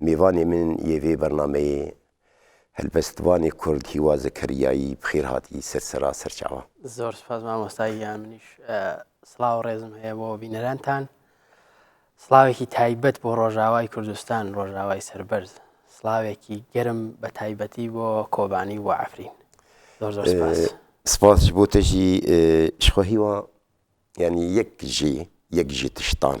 میوانی من یێ ڤێ بەرنامەیێ هەلبەستڤانێ کورد هیوا زەکەریایی بخێر هات ئی سەر سەرا سەرچاوە. زۆر سپاس مامۆستا گیان منیش سڵاو ڕێزم هەیە بۆ بینەرانتان سڵاوێکی تایبەت بۆ ڕۆژاوای کوردستان ڕۆژاوای سربەرز سڵاوێکی گەرم بە تایبەتی بۆ کۆبانی و عفرین زۆر زۆر سپاس سپاس بۆ تەژی شخۆهیوە ینی یەک ژێ یەک ژێ تشتان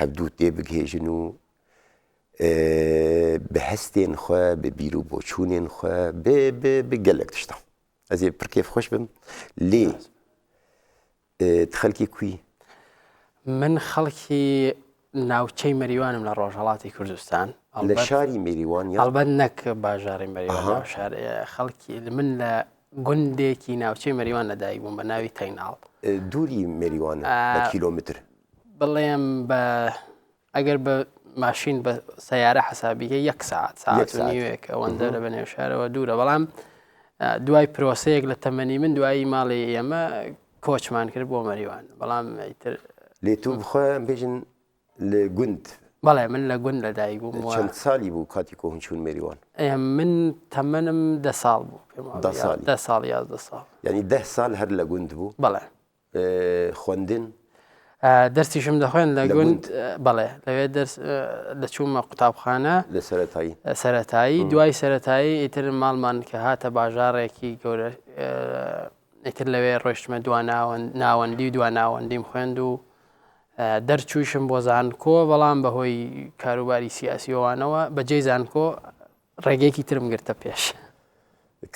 هەڤدوو تێبگهێژن و بە هەستێن خوێ بە بیر و بۆچوونێن خوێ بگەلک تشتە ئەزێ پرکێف خۆش بم لێ خەلکی کوی من خەڵکی ناوچەی مەریوانم لە ڕۆژهڵاتی کوردستان لە شاری مریوان هەڵبەت نەک باژاری مەریوان شار خەڵکی من لە گوندێکی ناوچەی مەریوان لەدایک بووم بە ناوی تەیناڵ دووری مریوان کیلومتر بڵێم بە ئەگەر بە ماشین بە سیارە حسابیکە یەک ساعت ساعت نیوێک ئەوەندە لە بەنێو شارەوە دوورە بەڵام دوای پرۆسەیەک لە تەمەنی من دوایی ماڵی ئێمە کۆچمان کرد بۆ مەریوان بەڵام ئیتر لێ تو بخۆیان بێژن لە گوند بەڵێ من لە گوند لە دایک بووم چەند سالی بوو کاتی کۆهن چوون مێریوان من تەمەنم ده ساڵ بوو ده ساڵ یازدە ساڵ ینی ده سال هەر لە گوند بوو بەڵێ خوەندن؟ دەرسیشم دەخوێند لە گوند بەڵێ لەوێ دەرس دەچوومە قوتابخانە لە سەرەتایی سەتایی دوای سەتایی ئیتر ماڵمان کە هاتە باژارێکی گەورە ئیتر لەوێ ڕۆشتمە دو ناوەندی و دو ناوەندیم خوێند و دەرچوویشم بۆ زانکۆ بەڵام بەهۆی کاروباری سیاسیەوانەوە بەجێ زانکۆ ڕێگەیەکی ترم گرتە پێش.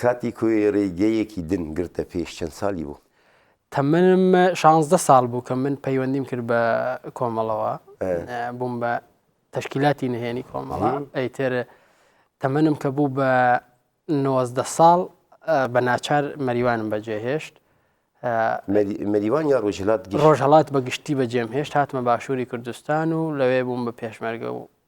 کاتی کۆی ڕێگەیەکی دن گرتە پێش چەند سالی بوو؟ تەمەنم شانزدە ساڵ بوو کە من پەیوەندیم کرد بە کۆمەڵەوە بووم بە تەشکیلاتی نهێنی کۆمەڵە ئەیتر تەمەنم کە بوو بە نۆزدە ساڵ بە ناچار مەریوانم بەجێهێشت مەریوان یا ڕۆژهلات ڕۆژهڵات بە گشتی بەجێم هێشت هاتمە باشووری کوردستان و لەوێ بووم بە پێشمەرگە و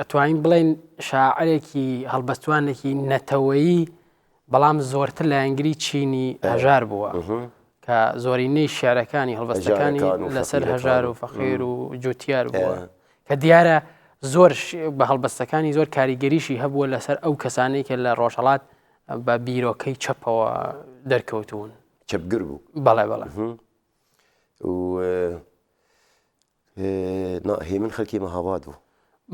ئەتوانین بڵێین شاعرێکی هەڵبەستوانێکی نەتەوەیی بەڵام زۆرتر لایەنگری چینی هەژار بووە کە زۆرینەی شارەکانی هەڵبەستەکانی لەسەر هەژار و فەخێر و جوتیار بووە کە دیارە زۆر بە هەڵبەستەکانی زۆر کاریگەریشی هەبووە لەسەر ئەو کەسانی کە لە ڕۆژهڵات بە بیرۆکەی چەپەوە دەرکەوتون چەپگر بوو بەڵێ بەڵێ نا هێمن خەلکی مەهاباد بوو.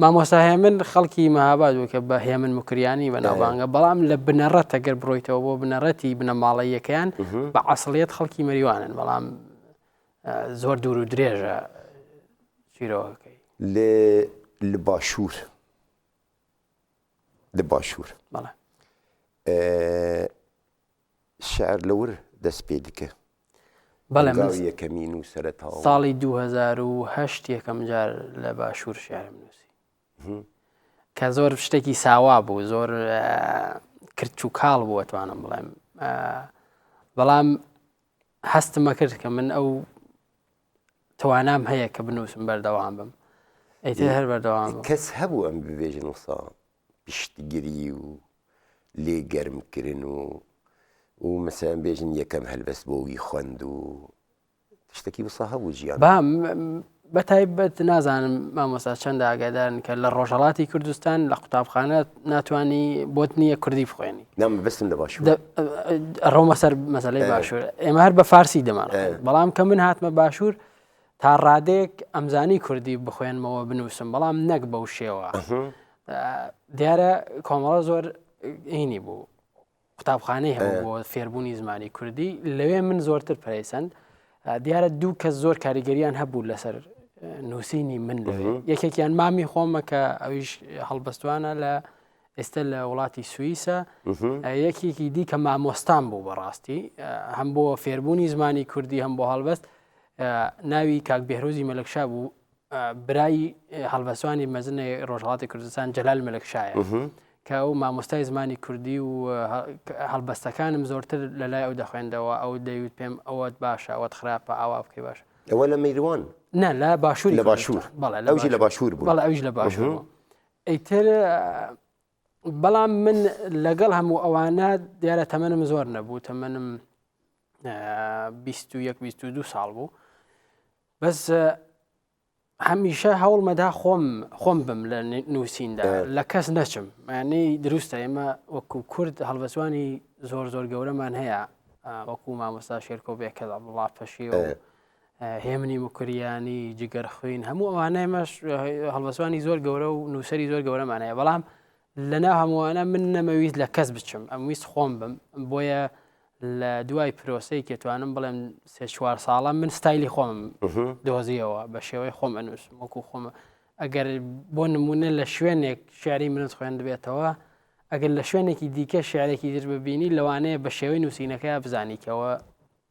مامۆستا هێمن خەڵکی مەهاباد بوو کە بە هێمن مکریانی بەناوبانگە بەڵام لە بنەڕەتە گەر بڕۆیتەوە بۆ بنەڕەتی بنەماڵەیەکەیان بە عسڵیت خەڵکی مەریوانن بەڵام زۆر دوور و درێژە چیرۆکەکەی لێ لە باشوور لە باشوور بەڵێ شعر لە ور دەست پێ دکە. بەڵێ من هەنگاوی یەکەمی نووسەرە تەواو. ساڵی دوو هەزار و هەشت یەکەم جار لە باشوور شعرم نووسی. کە زۆر شتێکی ساوا بوو زۆر کرچ و کاڵ بوو توانم بڵێم بەڵام هەستمە کرد کە من ئەو توانام هەیە کە بنووسم بەردەوام بم ئەیتر هەر بەردەوام کەس هەبوو ئەم ببێژن وسا پشتگری و لێ گەرم کرن و و مەسەلەن بێژن یەکەم هەلبەست بۆ وی خوەند و شتەکی وسا هەبوو جیان با بە تایبەت نازانم مامۆستا چەندە ئاگادارن کە لە ڕۆژهڵاتی کوردستان لە قوتابخانە ناتانی بۆت نییە کوردی بخوێنی نام بستم لە باش ڕۆمە سەر مەسلەی باشوور ئێمە هەر بە فارسی دەمان بەڵام کە من هاتمە باشوور تا ڕادەیەک ئەمزانی کوردی بخوێنمەوە بنووسم بەڵام نەک بەو شێوە دیارە کۆمەڵە زۆر ئینی بوو قوتابخانەی هەبوو بۆ فێربوونی زمانی کوردی لەوێ من زۆرتر پرەیسەند دیارە دوو کەس زۆر کاریگەریان هەبوو لەسەر نووسینی من لەوێ یەکێکیان مامی خۆمە کە ئەویش هەڵبەستوانە لە ئێستا لە وڵاتی سوئیسە یەکێکی دی کە مامۆستان بوو بەڕاستی هەم بۆ فێربوونی زمانی کوردی هەم بۆ هەڵبەست ناوی کاک بێهرۆزی مەلەکشا بوو برای هەڵبەسوانی مەزنەی ڕۆژهڵاتی کوردستان جەلال مەلەکشایە کە ئەو مامۆستای زمانی کوردی و هەڵبەستەکانم زۆرتر لە لای ئەو دەخوێندەوە ئەو دەیوت پێم ئەوەت باشە ئەوەت خراپە ئاوا بکەی باش ئەوە لە میروان نە لە باشووری لە باشوور لە باشوور بوو ئەوش لە باشوور ئەیتر بەڵام من لەگەڵ هەموو ئەوانە دیارە تەمەنم زۆر نەبوو تەمەنم دو ساڵ بوو بەس هەمیشە هەوڵمەدا خۆم خۆم بم لە نووسیندا لە کەس نەچم مانەی دروستە ئێمە وەکو کورد هەڵبەسوانی زۆر زۆر گەورەمان هەیە وەکو مامۆستا شێرکۆ بێکەدا وڵاتەشی هێمنی مکریانی جگەر خوین هەموو ئەوانە مەش هەڵبەسوانی زۆر گەورە و نووسری زۆر گەورەمانەیە بەڵام لەنا هەمووانە من نەمەویست لە کەس بچم ئەم ویست خۆم بم بۆیە لە دوای پرۆسی کێتوانم بڵێم سێ چوار ساڵە من ستایلی خۆم دۆزیەوە بە شێوەی خۆم ئەنووس وەکو خۆمە ئەگەر بۆ نمونە لە شوێنێک شاری منت خوێندبێتەوە ئەگەر لە شوێنێکی دیکە شارێکی در ببینی لەوانەیە بە شێوەی نووسینەکە بزانیکەوە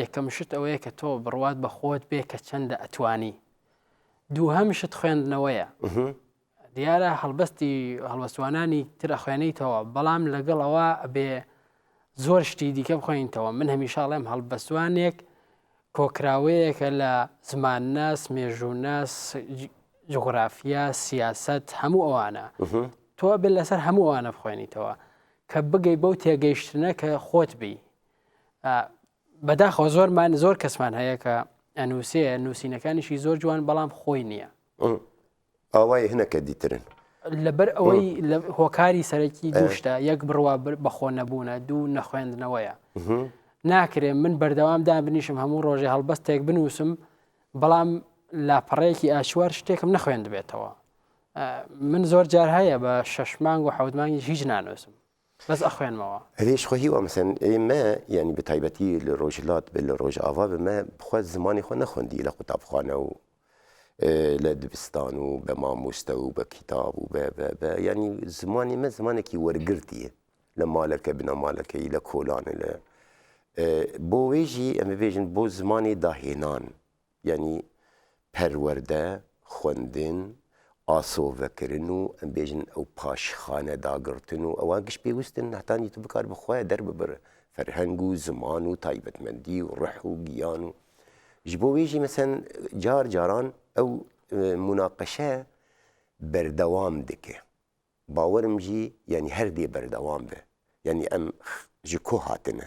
یەکەم شت ئەوەیە کە تۆ بڕوات بە خۆت بێ کە چەندە ئەتوانی دووهەم شت خوێندنەوەیە دیارە هەڵبەستی هەڵوەستوانانی ترە خوێنیتەوە بەڵام لەگەڵەوە ئەبێ زۆر شتی دیکە بخۆینتەوە من هەمیشاڵێم هەڵبەستوانێک کۆکراوەیەکە لە زمان ناس مێژوو ناس جغرافیا سیاست هەموو ئەوانە تۆ بێت لەسەر هەموو ئەوانە بخوێنیتەوە کە بگەی بەو تێگەیشتنە کە خۆت بی بەداخەوە زۆرمان زۆر کەسمان هەیە کە ئەنووسێ نووسینەکانیشی زۆر جوان بەڵام خۆی نییە ئاوای هەنەکە دیترن لەبەر ئەوەی لە هۆکاری سەرەکی دوشتە یەک بڕوا بەخۆ نەبوونە دوو نەخوێندنەوەیە ناکرێ من بەردەوام دابنیشم هەموو ڕۆژێ هەڵبەستێک بنووسم بەڵام لاپەڕەیەکی ئاشوار شتێکم نەخوێندبێتەوە من زۆر جار هەیە بە شەش مانگ و حەوت مانگی هیچ نانوسم بەس ئەخوێنمەوە. ئەرێ خۆ هیوا مەسەن ئێمە یانی بە تایبەتی لە ڕۆژهەلات بە لە ڕۆژاڤا بە مە بخوا زمانی خۆ نەخۆندی لە قوتابخانە و لە دبستان و بە مامووستە و بە کیتاب و بە بە بە یانی زمانی مە زمانێکی وەرگرتیە لە مالەکە بنە مالەکەی لە کۆلانە لە بۆ وێژی ئەمە بێژن بۆ زمانی داهێنان. یانی پەروەردە، خوەندن، ئاسۆڤەکرن و ئەم بێژن ئەو پاشخانە داگڕتن و ئەوە گشت پێوستن نهتانی تو بکار بخوەێ دەر ببڕ فەرهەنگ و زمان و تایبەتمەندی و ڕح و گیان و ژ بۆ وێژی مەسەن جار جاران ئەو مناقەشە بەردەوام دکێ باوەرم ژی یانی هەردێ بەردەوام بێ یانی ئەم ژ کۆ هاتنە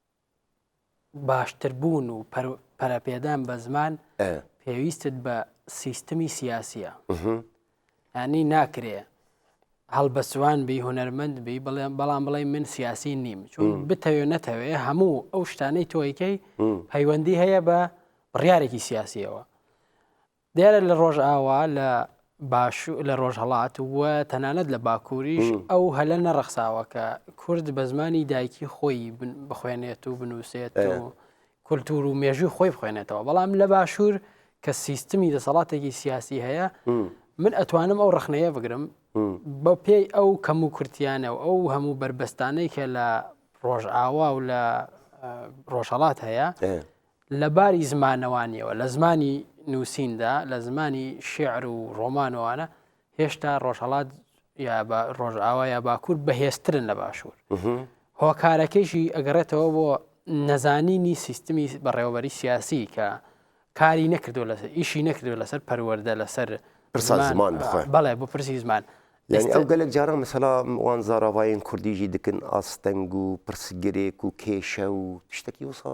باشتربوون و پەرەپێدان بە زمان پێویستت بە سیستمی سیاسیە ئەنی ناکرێ هەڵبەسوان بی هوەرمەند بی بڵێن بەڵام بڵێ من سیاسی نیم چون بتەوێ نەتەوێ هەموو ئەو شتانەی تۆیکەی پەیوەندی هەیە بە بڕارێکی سیاسیەوە دیارە لە ڕۆژئاوا، لە باشوور، لە ڕۆژهەڵات و تەنانەت لە باکووریش ئەو هەلە نەڕەخساوە کە کورد بە زمانی دایکی خۆی بخوێنێت و بنووسێت و کولتوور و مێژووی خۆی بخوێنێتەوە بەڵام لە باشوور کە سیستمی دەسەڵاتێکی سیاسی هەیە من ئەتوانم ئەو ڕخنەیە بگرم بە پێی ئەو کەم و کورتیانە و ئەو هەموو بربەستانەی کە لە ڕۆژئاوا و لە ڕۆژهڵات هەیە لە باری زمانەوانیەوە لە زمانی نووسیندا لە زمانی شعر و ڕۆمانەوانە هێشتا ڕۆژهڵات یا بە ڕۆژئاوا یا باکوور بەهێزترن لە باشوور هۆکارەکەیشی ئەگەڕێتەوە بۆ نەزانینی سیستمی بەڕێوەبەری سیاسی کە کاری نەکردو لەسەر ئیشی نەکردو لەسەر پەروەەردە لەسەر زمان بەڵێ بۆ پرسی زمان ئەو گەلێک جاران مەسەلا وان زاراڤایەن کوردیژی دکن ئاستەنگ و پرسگرێک و کێشە و شتێکی وسا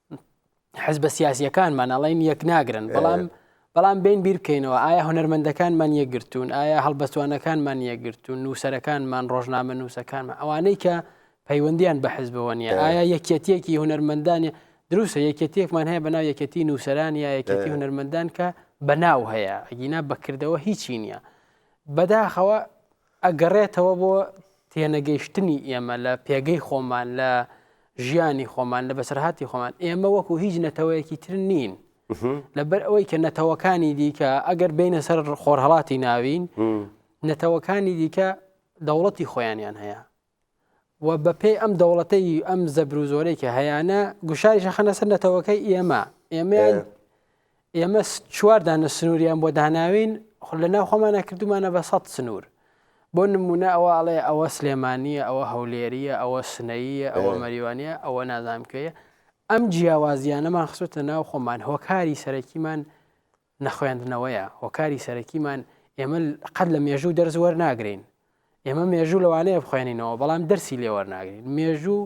حزبە سیاسیەکانمان ئەڵین یەک ناگرن بەڵام بەڵام بین بیر بکەینەوە ئایا هەنەرمەندەکانمان یەکگرتوون ئایا هەڵبەستوانەکانمان یەکگرتوون نووسەرەکانمان ڕۆژنامە نووسەکانمان ئەوانەی کە پەیوەندیان بە حزبەوە نیە ئایا یەکەتیەکی هوەرمەندانی دروستە یەکەتیەکمان هەیە بەناو یەکەتی نووسەران یا یەکەتی هوەرمەندان کە بەناو هەیە ئەگینا بەکردەوە هیچی نییە بەداخەوە ئەگەڕێتەوە بۆ تێنەگەیشتنی ئێمە لە پێگەی خۆمان لە ژیانی خۆمان لە بەسەرهاتی خۆمان ئێمە وەکو هیچ نەتەوەیەکی تر نین لەبەر ئەوەی کە نەتەوەکانی دیکە ئەگەر بینە سەر خۆرهڵاتی ناوین نەتەوەکانی دیکە دەوڵەتی خۆیانیان هەیە و بە پێی ئەم دەوڵەتەی ئەم زەبر و زۆرەی کە هەیانە گوشاریشە خەنە سەر نەتەوەکەی ئێمە ئێمەیان ئێمە چواردانە سنووریان بۆ داناوین خۆ لە ناو خۆمانە کردومانە بە سەد سنوور بۆ نمونە ئەوە ئەڵێ ئەوە سلێمانە ئەوە هەولێریە ئەوە سنەیە ئەوە مەریوانە ئەوە نازانکەیە ئەم جیاوازیانەمان خسوتە ناو خۆمان هۆکاری سەرەکیمان نەخوێندنەوەیە، هۆکاری سەرەکیمان ئێمە قەت لە مێژوو دەرز وەرناگرین ئێمە مێژوو لەوانەیە بخوێنینەوە بەڵام دەرسی لێوەرناگرین مێژوو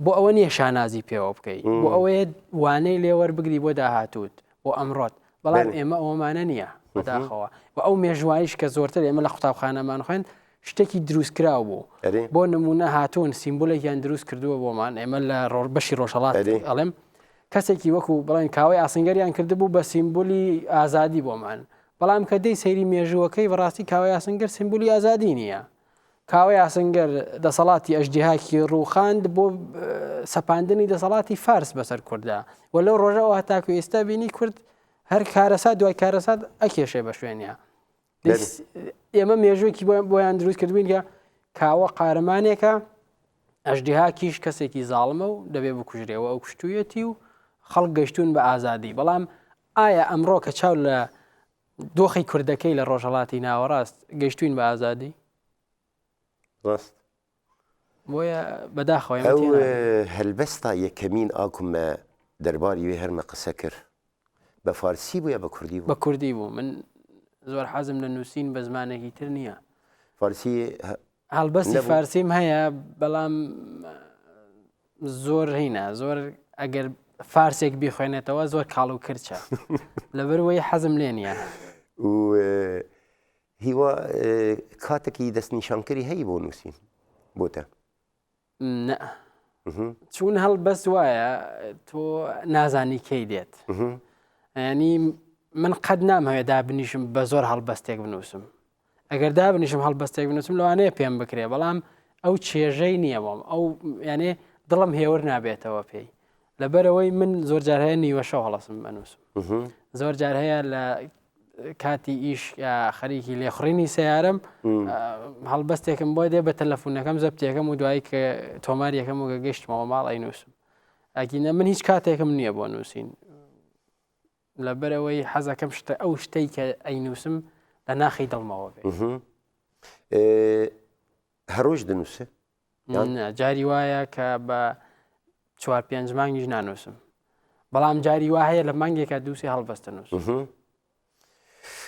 بۆ ئەوە نییە شانازی پێوە بکەیت بۆ ئەوەیە وانەی لێوەر بگری بۆ داهاتوت بۆ ئەمڕۆت بەڵام ئێمە ئەومانە نییە بەداخەوە و ئەو مێژوانیش کە زۆرتر ئێمە لە قوتابخانەمان خوێن شتێکی دروستکراو بوو بۆ نمونە هاتوون سیمبولێکیان دروست کردووە بۆمان ئێمە لە ڕۆژ بەشی ڕۆژهڵات ئەڵێم کەسێکی وەکو بڵێن کاوەی ئاسنگەریان کردبوو بە سیمبولی ئازادی بۆمان بەڵام کە دەی سەیری مێژووەکەی بەڕاستی کاوە یاسنگەر سیمبولی ئازادی نییە کاوە یاسنگەر دەسەڵاتی ئەژدیهاکی ڕووخاند بۆ سەپاندنی دەسەڵاتی فارس بەسەر کووردا و لەو ڕۆژەوە هەتاکو ئێستا بینی کورد هەر کارەسات دوای کارەسات ئەکێشێ بە شوێنە ئێمە مێژوێکی بۆیان دروست کردوین کە کاوە قارەمانێکە ئەشدیها کیش کەسێکی زاڵمە و دەبێ بکوژرێەوە ئەو کوشتویەتی و خەڵک گەشتون بە ئازادی بەڵام ئایا ئەمڕۆ کە چاو لە دۆخی کوردەکەی لە ڕۆژهڵاتی ناوەڕاست گەشتوین بە ئازادی ڕاست بۆیە بەداخەوە ئێمە تێ ناگەین. ئەو هەلبەستا یەکەمین ئا ک مە دەرباری وێ هەر مە قسە کر بە فارسی بوو یا بە کوردی بوو؟ بە کوردی بوو. من زۆر حەزم لە نووسین بە زمانێکی تر نییە. فارسی هە هەڵبەستی نەبوو؟ فارسیم هەیە بەڵام زۆر هینا زۆر ئەگەر فارسێک بیخوێنێتەوە زۆر کاڵ و کرچە لەبەر وەی حەزم لێ نییە. و هیوا کاتەکی دەست نیشانکەری هەی بۆ نووسین بۆتە؟ نە چون هەڵ بەس وایە تۆ نازانی کەی دێت ینی من قەت نامەوێت دابنیشم بە زۆر هەڵبەستێک بنووسم ئەگەر دابنیشم هەڵبەستێک بنووسم لەوانەیە پێم بکرێ بەڵام ئەو چێژەی نییە بۆم ئەو یانێ دڵم هێور نابێتەوە پێی لەبەرەوەی من زۆر جار هەیە نیوە شەو هەڵسم بەنووسم زۆر جار هەیە لە کاتی ئیش خەریکی لێخڕینی سیارم هەڵبەستێکم بۆ دێ بە تەلەفونەکەم زەبتێکەکەم و دوایی کە تۆمار یەکەم و گەگەشتمەوە ماڵ ئەی نووسم ئەگینە من هیچ کاتێکم نییە بۆ نووسین لەبەرەوەی حەزەکەم شتە ئەو شتەی کە ئەی نووسم لە ناخی دڵمەوە بێ هەڕۆژ دەنووسێ جاری وایە کە بە چوار پێنج مانگیش نانووسم بەڵام جاری وا هەیە لە مانگێکە دووسی هەڵبەستە نووس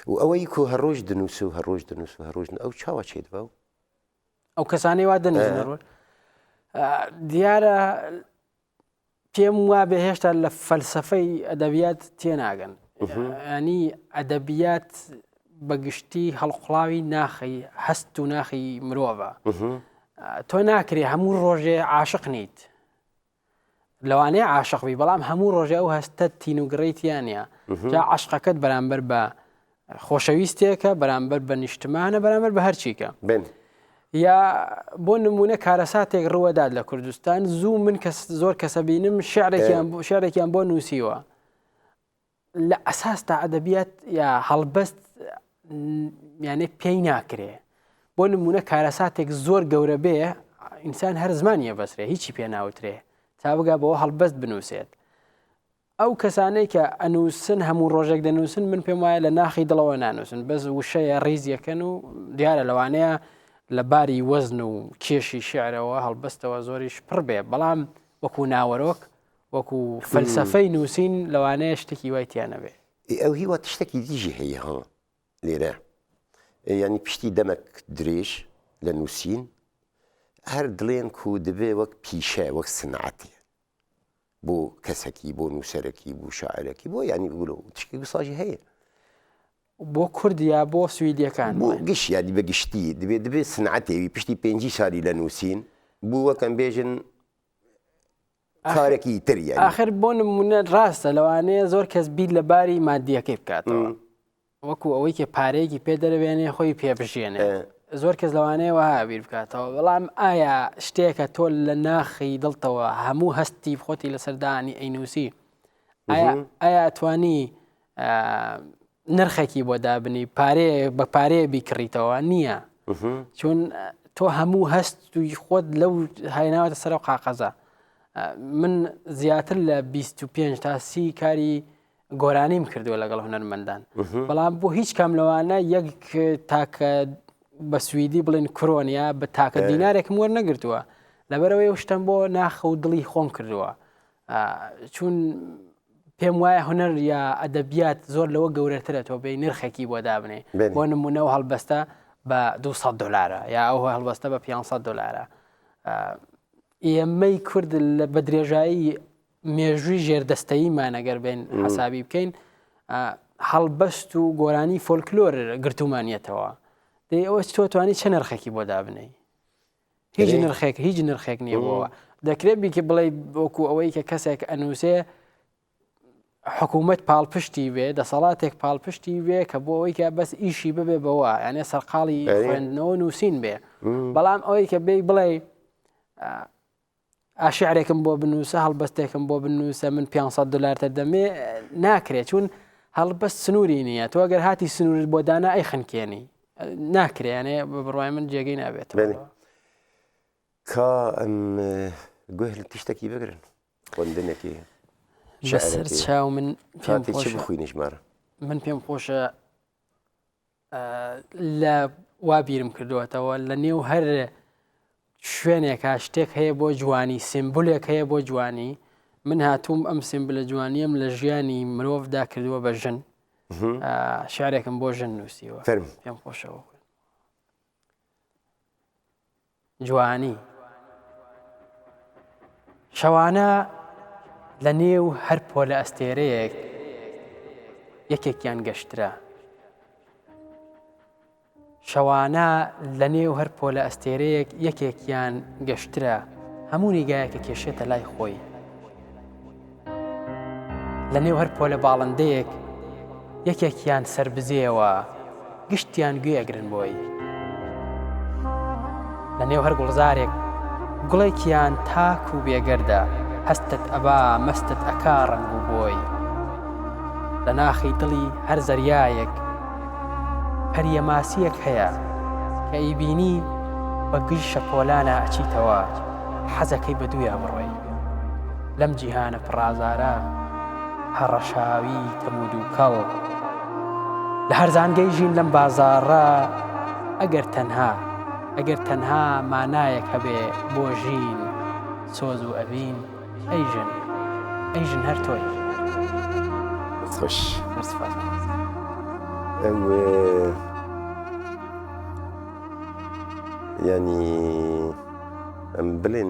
و ئەوەی کو هەڕۆژ دنووس و هەڕۆژ دنووس و هەڕۆژن ئەو چاوە چێت بە و ئەو کەسانی وا دەنووس دیارە پێم وابێ هێشتا لە فەلسەفەی ئەدەبیات تێناگەن ینی ئەدەبیات بەگشتی هەڵقڵاوی ناخی هەست و ناخی مرۆڤە تۆ ناکرێ هەموو ڕۆژێ عاشق نیت لەوانەیە عاشقبی بەڵام هەموو ڕۆژە و هەستە تینوگڕیتیانە جا عشقەکەت بەرامبەر بە خۆشەویستێکە بەرامبەر بە نیشتمانە بەرامبەر بە هەرچیکە بن. یا بۆ نمونە کارەساتێک ڕوەدات لە کوردستان زوو من کەس زۆر کەسە بینم شعرێکیان شعرێکیان بۆ نووسیوە لە ئەساس تا ئەدەبیات یا هەڵبەست یانێ پێی ناکرێ بۆ نمونە کارەساتێک زۆر گەورە بێ ئینسان هەر زمانیە بەسرێ هیچی پێ ناوترێ تا بگا بەوە هەڵبەست بنووسێت ئەو کەسانەی کە ئەنووسن هەموو ڕۆژێک دەنووسن من پێم وایە لە ناخی دڵەوە نانووسن بەس وشەیە ڕیزیەکەن و دیارە لەوانەیە لە باری وەزن و کێشی شعرەوە هەڵبەستەوە زۆریش پڕ بێ بەڵام وەکو ناوەرۆک وەکو فەلسەفەی نووسین لەوانەیە شتێکی وای تیانەبێ ئەو هیوا تشتێکی دیژی هەیە هەڵ لێرە ینی پشتی دەمەک درێژ لە نووسین هەر دڵێن کو دەبێ وەک پیشە وەک سنعاتێ بۆ کەسەکی بۆ نووسەرەکی بوو شاعرەکی بۆ ینی گولە و تشکی گوساژی هەیە بۆ کوردیا بۆ سویدیەکان بۆ گشت یادی بە گشتی دەبێت دەبێت سنعاتێوی پشتی پێنجی ساری لە نووسین بووەکەم بێژن کارێکی تریە آخر بۆ نمونە ڕاستە لەوانەیە زۆر کەس بیر لە باری مادیەکەی بکاتەوە. وەکو ئەوەی کە پارەیەکی پێ دەربێنێ خۆی پێ بژیێنێ زۆر کەس لەوانەیە وەها بیر بکاتەوە بەڵام ئایا شتێکە تۆ لە ناخی دڵتەوە هەموو هەستی خۆتی لە سەردانی ئەینوسی ئایا توانی نرخێکی بۆ دابنی پارێ بە پارەیە بیکڕیتەوە نییە چون تۆ هەموو هەست توی خۆت لەو هایناوەتە سەر و قاقەزە من زیاتر لە 25 تا سی کاری گۆرانیم کردووە لەگەڵ هونەرمەندان بەڵام بۆ هیچ کام لەوانە یەک تاکە بە سوئدی بڵێن کرۆنیا بە تاکە دینارێکم وەر نەگرتووە لەبەرەوەی و شتم بۆ ناخە و دڵی خۆم کردووە چون پێم وایە هونەر یا ئەدەبیات زۆر لەوە گەورەترە تۆ بێ نرخێکی بۆ دابنێ بۆ نمونەوە هەڵبەستە بە 200 دلارە یا ئەو هەڵبەستە بە 500 دلارە ئێمەی کورد لە بە درێژایی مێژووی ژێردەستەییمان ئەگەر بێن حسابی بکەین هەڵبەست و گۆرانی فۆلکلۆر گرتومانیەتەوە دەی ئەوە تۆ توانی چه نرخێکی بۆ دابنەی هیچ نرخێک هیچ نرخێک نیەوەوە دەکرێت بیکە بڵێ بۆکو ئەوەی کە کەسێک ئەنووسێ حکوومەت پاڵپشتی وێ دەسەڵاتێک پاڵپشتی وێ کە بۆ ئەوەی کە بەس ئیشی ببێ بەوە یانێ سەرقاڵی خوێندنەوە نووسین بێ بەڵام ئەوەی کە بێ بڵێ ئا شعرێکم بۆ بنووسە هەڵبەستێکم بۆ بنووسە من 500 دلار تر دەمێ ناکرێت چون هەڵبەست سنووری نییە تۆ گەر هاتی سنوورت بۆ دانا ئەی خنکێنی ناکرێنێ بە بڕای من جێگەی نابێت کا ئەم گوێ لە تیشتێکی بگرن خوندنێکی چاو من پێم خوێنیش مارە من پێم خۆشە لە وا بیرم کردوەتەوە لە نێو هەر شوێنێکا شتێک هەیە بۆ جوانی سمبولێک هەیە بۆ جوانی من هاتووم ئەم سمبلە جوانیم لە ژیانی مرۆڤدا کردووە بە ژن شارێکم بۆ ژن نووسیوە پێم خۆشەوە جوانی شەوانە لە نێو هەر پۆلە ئەستێرەیەک یەکێکیان گەشترا شەوانە لە نێو هەر پۆلە ئەستێرەیەک یەکێکیان گەشترا هەموو نیگایەکە کێشێتە لای خۆی لە نێو هەر پۆلە باڵندەیەک یەکێکیان سربزێەوە گشتیان گوێگرن بۆی لە نێو هەر گوڵزارێک گوڵێکیان تاک و بێگەردە هەستت ئەبا مەستت ئەکا ڕنگ و بۆی لە ناخی دڵی هەر زەریایەک هەریە ماسیەک هەیە کە ئیبینی بە گژ شەپۆلانە ئەچیتەوە حەزەکەی بە دوویا بڕۆی لەم جیهانە پڕازارە هەڕەشاوی تەم و دووکەڵ لە هەرزانگەی ژین لەم بازاڕە ئەگەر تەنها ئەگەر تەنها مانایەک هەبێ بۆ ژین سۆز و ئەڤین ئەی ژن ئەی ژن هەر تۆی خوش ینی ئەم بلێن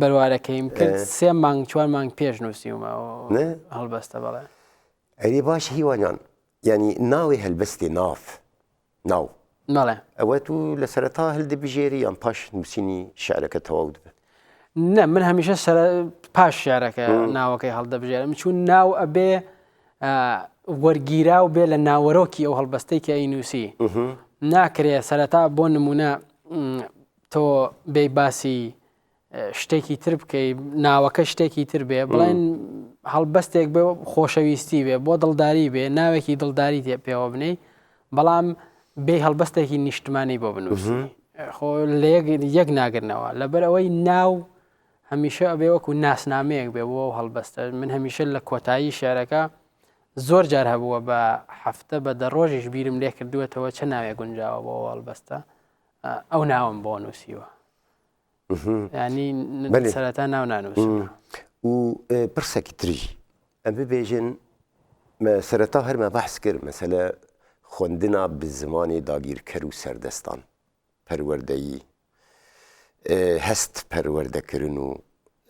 بەروارەکەیم کرد سێ مانگ چوار مانگ پێش نووسیومە هەڵبەستە بەڵێ ئەری باش هیوانان ینی ناوی هەلبەستی ناف ناو ناڵێ ئەوە تو لە سەرتا هەلدەبژێری یان پاش نووسینی شارەکە تەواو دەبێت نە من هەمیشە سەر پاش شارەکە ناوەکەی هەڵدەبژێرم چون ناو ئەبێ وەرگیرا و بێ لە ناوەرۆکی ئەو هەڵبەستێکی ئەی نووسی ناکرێ سەرەتا بۆ نمونە تۆ بێی باسی شتێکی تر بکەی ناوەکە شتێکی تر بێ بڵێن هەڵبەستێک بێ خۆشەویستی بێ بۆ دڵداری بێ ناوێکی دڵداری تێ پێوە بنەی بەڵام بێ هەڵبەستێکی نیشتمانی بۆ بنووسی خۆ لە یەک ناگرنەوە لەبەر ئەوەی ناو هەمیشە ئەبێ وەکو ناسنامەیەک بێ بۆ هەڵبەستە من هەمیشە لە کۆتایی شارەکە زۆر جار هەبووە بە هەفتە بە دە ڕۆژیش بیرم لێ کردووەتەوە چە ناوێ گونجاوە بۆ هەڵبەستە ئەو ناوم بۆ نووسیوە ینی سەرەتا ناو نانووس و پرسێکی تری ئەم ببێژن سەرەتا هەرمە بەحس کرد مەسەلە خوندنا بە زمانی داگیرکەر و سەردەستان پەروەردەیی هەست پەروەردەکردن و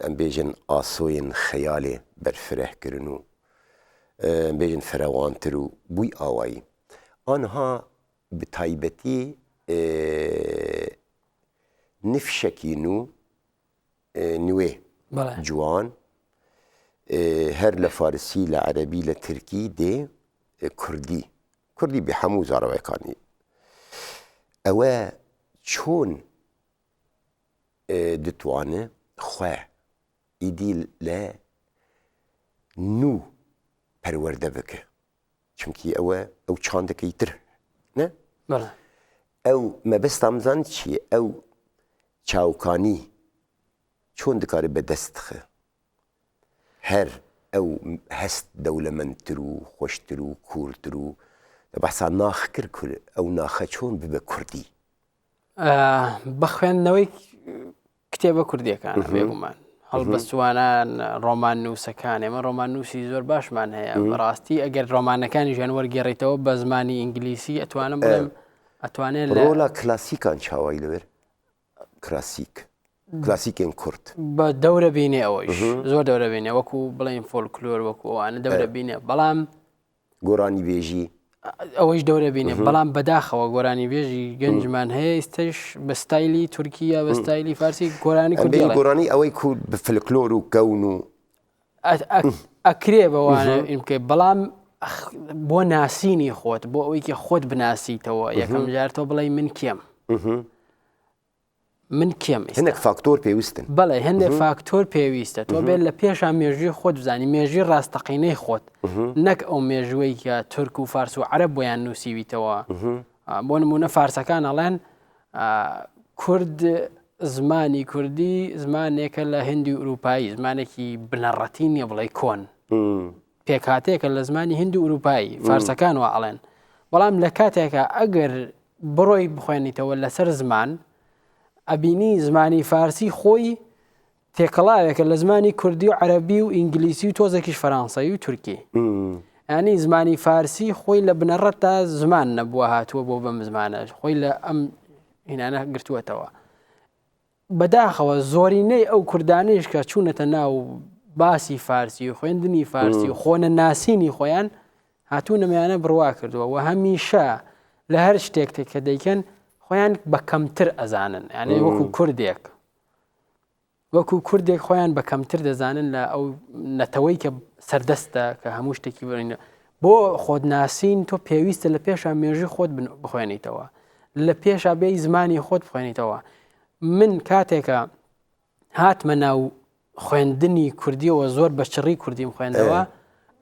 ئەم بێژن ئاسۆین خەیالێ بەرفرەهکردن و بێژن فرەوانتر و بووی ئاوایی آنها بەتایبەتی نفشەکی نو نوێ جوان هەر لە فارسی لە عەربی لە ترکی دێ کوردی کوردی بە هەموو زارەوەەکانی ئەوە چۆن دتوانێ خوێ ئیدی لە نوو پەروەەردە بکە چونکی ئەوە ئەو چاندەکەی تر نە ئەو مەبەستامزان چیە ئەو چاوکانی چۆن دکارێت بە دەستخە هەر ئەو هەست دەولەمەندتر و خۆشتر و کورتر و بەسا ناخکرد کورد ئەو ناخە چۆن ببە کوردی بە خوێندنەوەی کتێبە کوردیەکان بێگومان هەڵبەستوانان ڕۆمان نووسەکان ئێمە ڕۆمان نووسی زۆر باشمان هەیە بەڕاستی ئەگەر ڕۆمانەکانی ژیان وەرگێڕیتەوە بە زمانی ئینگلیسی ئەتوانم بڵێم ئەتوانێت لەۆلا کلاسیکان چاوای لەوێر کلاسیک کلاسیکێن کورت بە دەورە بینێ ئەوەی زۆر دەورە بینێ وەکو بڵین فۆلکلۆر وەکووانە دەورە بینێ بەڵام گۆرانیبێژی ئەوەیش دەورە بینێ بەڵام بەداخەوە گۆرانی بێژی گەنجمان هەیە ئیستش بە ستایلی تورکیا بە ستایلی فارسی گۆرانی کوردی گۆرانی ئەوەی کورد فلکلۆر و کەون و ئەکرێ بەوانە ئینکە بەڵام بۆ ناسینی خۆت بۆ ئەوەیکە خۆت بناسیتەوە یەکەم جارتەوە بڵێ من کێم من کێم ئێستا؟ هەندێک فاکتۆر پێویستن. بەڵێ هەندێک فاکتۆر پێویستە تۆ بێت لە پێشا مێژووی خۆت بزانی مێژوی ڕاستەقینەی خۆت نەک ئەو مێژوەی کە تورک و فارس و عەرە بۆیان نووسیویتەوە بۆ نمونە فارسەکان ئەڵێن کورد زمانی کوردی زمانێکە لە هندی و ئوروپایی زمانێکی بنەڕەتی نییە بڵێ کۆن پێکهاتەیەکە لە زمانی هندو ئوروپایی فارسەکان و ئەڵێن بەڵام لە کاتێکە ئەگەر بڕۆی بخوێنیتەوە لەسەر زمان ئەبینی زمانی فارسی خۆی تێکەڵاوێکە لە زمانی کوردی و عەربی و ئینگلیسی و تۆزێکیش فەرانسەی و تورکی ئەنی زمانی فارسی خۆی لە بنەڕەت تا زمان نەبووە هاتووە بۆ بەم زمانە خۆی لە ئەم هینانە گرتووەتەوە بەداخەوە زۆرینەی ئەو کوردانەیش کە چوونەتە ناو باسی فارسی و خوێندنی فارسی و خۆنە ناسینی خۆیان هاتوو نەمەیانە بڕوا کردووە و هەمیشە لە هەر شتێک کە دەیکەن خۆیان بە کەمتر ئەزانن یانێ وەکو کوردێک وەکو کوردێک خۆیان بە کەمتر دەزانن لە ئەو نەتەوەی کە سەردەستە کە هەموو شتێکی بڕینە بۆ خۆت ناسین تۆ پێویستە لە پێشا مێژی خۆت بخوێنیتەوە لە پێشا بێی زمانی خۆت بخوێنیتەوە من کاتێکە هاتمە ناو خوێندنی کوردیەوە زۆر بە چڕی کوردیم خوێندەوە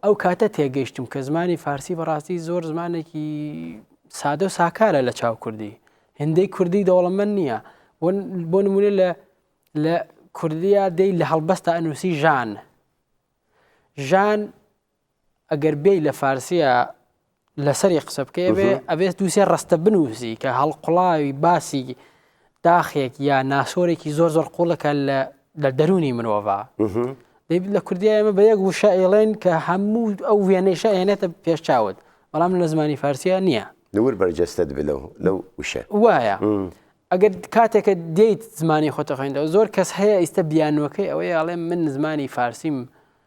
ئەو کاتە تێگەیشتم کە زمانی فارسی بەڕاستی زۆر زمانێکی سادە و ساکارە لە چاو کوردی هندەی کوردی دەوڵەمەند نییە بۆ نمونە لە لە کوردیا دەی لە هەڵبەستا ئەنووسی ژان ژان ئەگەر بێی لە فارسیە لەسەری قسە بکەێ بێ ئەبێت دووسێ ڕستە بنووسی کە هەڵقڵاوی باسی داخێک یا ناسۆرێکی زۆر زۆر قوڵەکە لە دەرونی مرۆڤە لە کوردیا ئێمە بە یەک وشە ئێڵێن کە هەموو ئەو وێنەیشە ئێنێتە پێش چاوت بەڵام لە زمانی فارسیە نییە لەور بەرجەستت بلو لەو وشە وایە ئەگەر کاتێکە دێیت زمانی خۆتە خوێندەوە زۆر کەس هەیە ئیستا بیانوەکەی ئەوەی ئاڵێ من زمانی فارسیم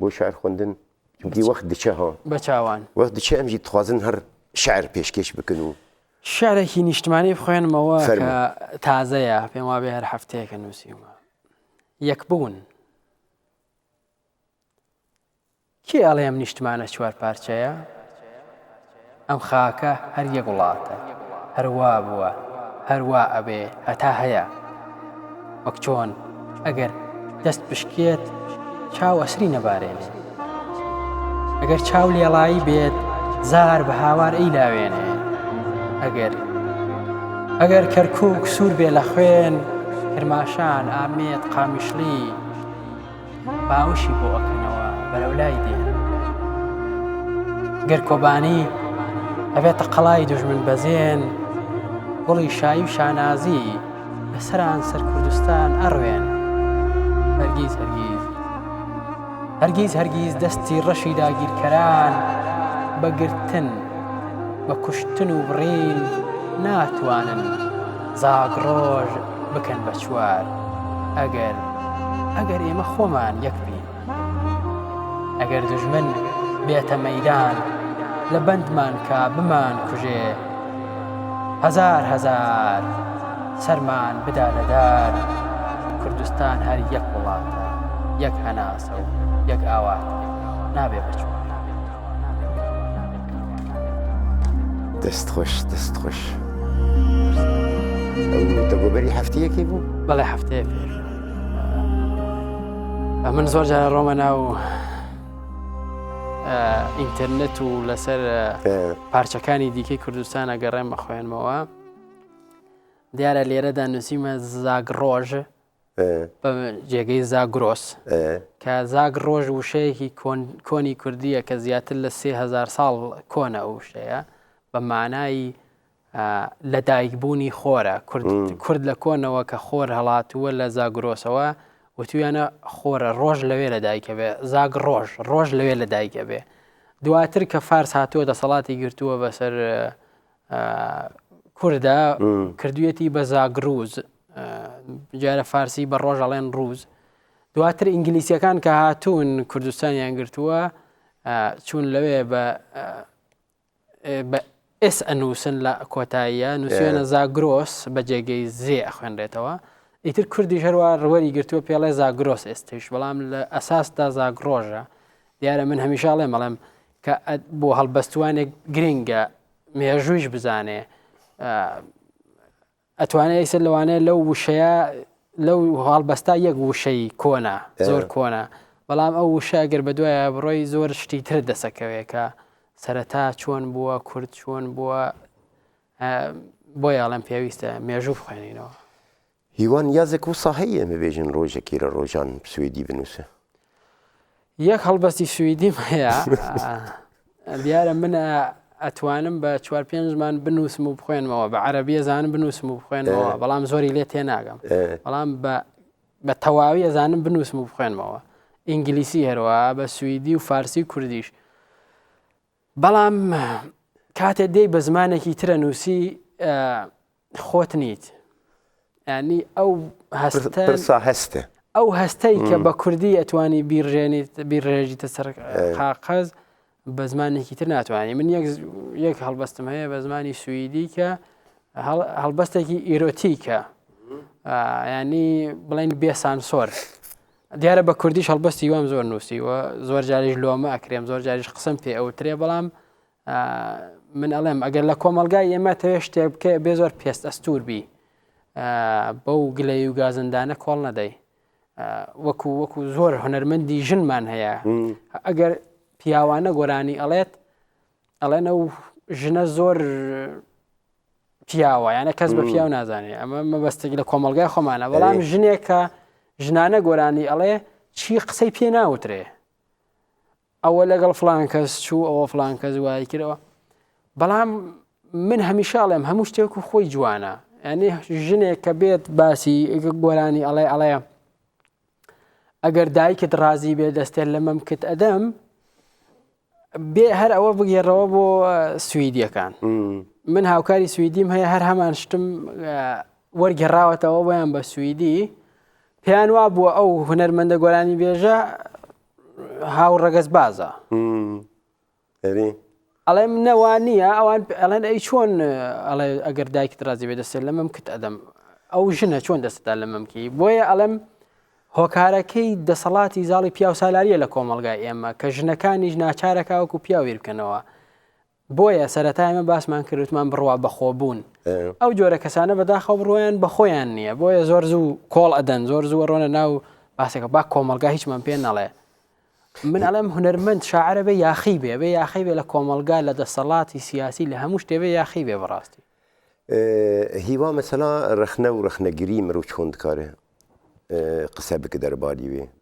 بۆ شعر خوندن چونکی وەخت دچە هۆ بە چاوان وەخت دچە ئەمژی تخوازن هەر شعر پێشکێش بکن و شعرێکی نیشتمانی بخوێنمەوە تازەیە پێم وابێ هەر هەفتەیەکە نووسیومە یەک بوون کێ ئەڵێم نیشتمانە چوار پارچەیە ئەم خاکە هەر یەک وڵاتە هەر وا بووە هەر وا ئەبێ هەتا هەیە وەک چۆن ئەگەر دەست بشکێت چاو ئەسری نەبارێنێ ئەگەر چاو لێڵایی بێت زار بە هاوار ئەی لاوێنێ ئەگەر ئەگەر کەرکک سوور بێ لە خوێن کرماشان ئامێت قامیشلی باوشی بۆ ئەکەنەوە بەرەو لای دێ گەر کۆبانی ئەبێت تەقەڵای دژمن بەزێن گوڵی شایی و شانازی لەسەران سەر کوردستان ئەڕوێن هەرگیز هەرگیز هەرگیز هەرگیز دەستی ڕەشی داگیرکەران بەگرتن بە کوشتن و بڕین ناتوانن زاگڕۆژ بکەن بە چوار ئەگەر ئەگەر ئێمە خۆمان یەک بین ئەگەر دژمن بێتە مەدان لە بەندمان کا بمان کوژێ هزار هزار سەرمان بدا لەدار کوردستان هەر یەک وڵاتە یەک هەناسە و یەک ئاوات نابێ بچوو دەست خۆش دەست خۆش دەگۆبەری هەفتەیەکی بوو بەڵێ هەفتەیە پێش من زۆر جارە ڕۆمە ناو ئینتەرنێت و لەسەر پارچەکانی دیکەی کوردستانە گەڕێمە خوێنمەوە دیارە لێرەدا نووسیمە زاگ ڕۆژ ە. بە جێگەی زاگرۆس. ە. کە زاگ ڕۆژ وشەیەکی کۆنی کوردییە کە زیاتر لە سێ هەزار ساڵ کۆنە ئەو وشەیە بە مانایی لە دایکبوونی خۆرە کورد لە کۆنەوە کە خۆر هەڵاتووە لە زاگرۆسەوە وتویانە خۆرە ڕۆژ لەوێ لە دایکە بێ زاگ ڕۆژ ڕۆژ لەوێ لە دایکە بێ دواتر کە فارس هاتووە دەسەڵاتی گرتووە بەسەر کوردە کردویەتی بە زاگروز جارە فارسی بە ڕۆژ ئەڵێن ڕوز دواتر ئینگلیسیەکان کە هاتوون کوردستانیان گرتووە چون لەوێ بە بە ئس ئەنووسن لە کۆتاییە نووسێنە زاگرۆس بە جێگەی زێ ئەخوێنرێتەوە ئیتر کوردی هەروە ڕوەری گرتووە پێڵێ زاگرۆس ئێستش بەڵام لە ئەساسدا زاگرۆژە دیارە من هەمیشاڵێ مەڵێم کە بۆ هەڵبەستوانێک گرنگە مێژوویش بزانێ ئەتوانێت ئیسە لەوانەیە لەو وشەیە لەو هەڵبەستا یەک وشەی کۆنا زۆر کۆنا بەڵام ئەو وشە گەر بە دوایە بڕۆی زۆر شتی تر دەسەکەوێکە سەرەتا چۆن بووە کورد چۆن بووە بۆ یاڵم پێویستە مێژوو بخوێنینەوە هیوا نیازێک وسا هەییە ببێژن ڕۆژەکی لە ڕۆژان سویدی بنووسە. یەک هەڵبەستی سویدیم هەیە دیارە من ئەتوانم بە چوار پێنج زمان بنووسم و بخوێنمەوە بە عەربیە زان بنووسم و بخوێنەوە بەڵام زۆری لێ تێناگەم بەڵام بە تەواوی ئەزانم بنووسم و بخوێنمەوە ئینگلیسی هەروە بە سوئدی و فارسی کوردیش بەڵام کاتێ دێی بە زمانێکی ترە نووسی خۆت نیت ینی ئەو هەستە هەستە ئەو هەستەی کە بە کوردی ئەتوانی بیرژێنیت بیرڕێژیتە سەر قاقەز بە زمانێکی تر ناتوانانی من یەک هەڵبەستم هەیە بە زمانی سوئیدی کە هەڵبەستێکی ئیرۆتیکە ینی بڵین بێسانسۆر دیارە بە کوردیش هەڵبەستی وام زۆر نووسی و زۆر جاریش لۆمە ئەکرێم زۆر جاریش قسم پێ ئەوترێ بەڵام من ئەڵێم ئەگەر لە کۆمەلگای ئێمە تەوێ شتێ بکە بێ زۆر پێست ئەستور بی بەو گلەی و گازندانە کۆڵ نەدەی وەکو وەکو زۆر هەنەرمەندی ژنمان هەیە ئەگەر پیاوانە گۆرانی ئەڵێت ئەڵێنە و ژنە زۆر پیاوە یانە کەس بە پیاو نازانێ ئەمە مەبەستێک لە کۆمەلگای خۆمانە بەڵام ژنێکە ژنانە گۆرانی ئەڵێ چی قسەی پێ ناوترێ ئەوە لەگەڵ فلان کەس چوو ئەوە فلان کەس وای کردەوە بەڵام من هەمیشاڵێم هەموو شتێک و خۆی جوانە ئەنی ژنێک کە بێت باسی گۆرانی ئەڵێ ئەڵێ ئەگەر دایکت ڕازی بێ دەستێن لە مەمکت ئەدەم بێ هەر ئەوە بگێڕەوە بۆ سوئیدیەکان من هاوکاری سوئیدیم هەیە هەر هەمان شتم وەرگێڕاوەتەوە بۆیان بە سوئیدی پێیان وا بووە ئەو هوەرمەندە گۆرانی بێژە هاو ڕەگەز بازە ئەری ئەڵێم نەوا نییە ئەوان ئەڵێن ئەی چۆن ئەڵێ ئەگەر دایکت ڕازی بێ دەسێت لە مەم کت ئەدەم ئەو ژنە چۆن دەستدا لە مەمکی بۆیە ئەڵێم هۆکارەکەی دەسەڵاتی زاڵی پیاو سالاریە لە کۆمەلگای ئێمە کە ژنەکانیش ناچارەکەوەکو پیاویر بکەنەوە بۆیە سەرەتا ئێمە باسمان کرد وتمان بڕوا بەخۆ بوون ئەو جۆرە کەسانە بەداخەوە بڕوایان بەخۆیان نییە بۆیە زۆر زوو کۆڵ ئەدەن زۆر زووە ڕۆنە ناو باسەکە با کۆمەلگا هیچمان پێ نەڵێ من ئەڵێم هونەرمەند شاعرە بێ یاخی بێ بێ یاخی بێ لە کۆمەلگا لە دەسەڵاتی سیاسی لە هەموو شتێبێ یاخی بێ بەڕاستی هیوا مەسەلا ڕخنە و ڕخنەگری مرۆ چۆن دکارێ قسە بکە دەرباری وێ